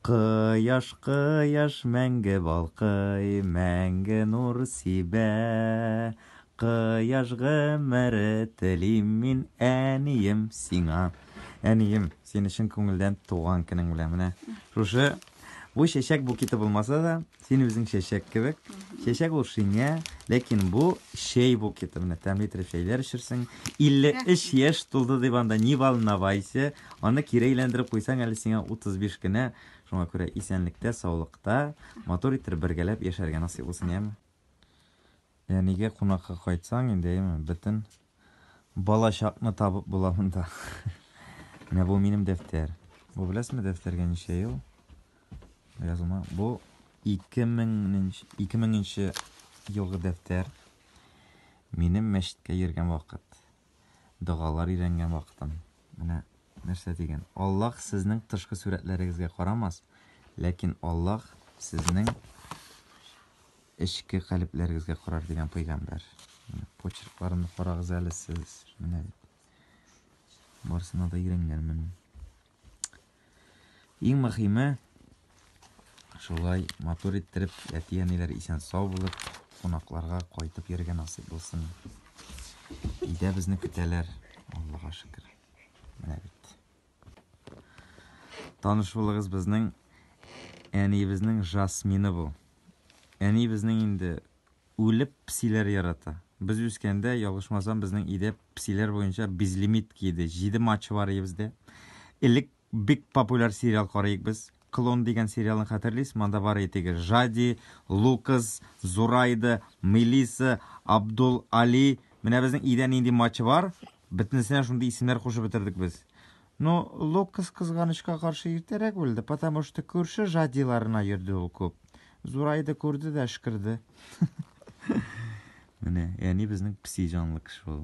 Кояш, кояш мәңге балкый, мәңге нур сибә. Кояш гомере телим мин әнием сиңа. Әнием, сине чын күңелдән туган көнең белән менә. Шушы бу чәчәк букеты булмаса да, Син үзең чәчәк кебек. Чәчәк ул шиңә, ләкин бу чәй букеты. Менә тәмле итеп чәйләр эчерсең. 53 яшь тулды дип анда ни волновайся. Аны кире әйләндереп куйсаң әле сиңа 35 кенә. Шуңа күрә исәнлектә, саулыкта, матур итеп бергәләп яшәргә насыйп булсын, яме? Әнигә кунакка кайтсаң инде, яме, бөтен. Балачакны табып була монда. Менә бу минем дәфтәр. Бу беләсме дәфтәргә ничә ел? Язылма. Бу 2000 нче елгы дәфтәр. Минем мәчеткә йөргән вакыт. Догалар өйрәнгән вакытым. Менә Нәрсә дигән? Аллаһ сезнең тышкы сурәтләрегезгә карамас, ләкин Аллаһ сезнең эчке калебләрегезгә карар дигән пәйгамбәр. Почеркларымны карагыз әле сез. Менә барысына да өйрәнгәнмен. Иң мөхиме шулай матур иттереп, әти-әниләр исән сау булып, кунакларга кайтып йөргән насыйп булсын. Өйдә безне көтәләр, Аллага шөкер. Менә бит. Таныш булыгыз безнең әниебезнең жасмины бу. Әниебезнең инде үлеп псиләр ярата. Без үскәндә, ялгышмасам, безнең өйдә псиләр буенча безлимит киде. 7 матчы бар өебездә. Элек Бик популяр сериал карыйк без. Клон дигән сериалны хәтерлисезме? Анда бар иде теге Жади, Лукас, Зурайда, Мелисса, Абдул Али. Менә безнең өйдә нинди матч бар, бөтенесенә шундый исемнәр кушып бетердек без. Ну, Лукас кызганычка каршы иртәрәк үлде, потому что күрше Жадиларына йөрде ул күп. Зурайда күрде дә әшкерде. Менә, әни безнең песи җанлы кеше ул.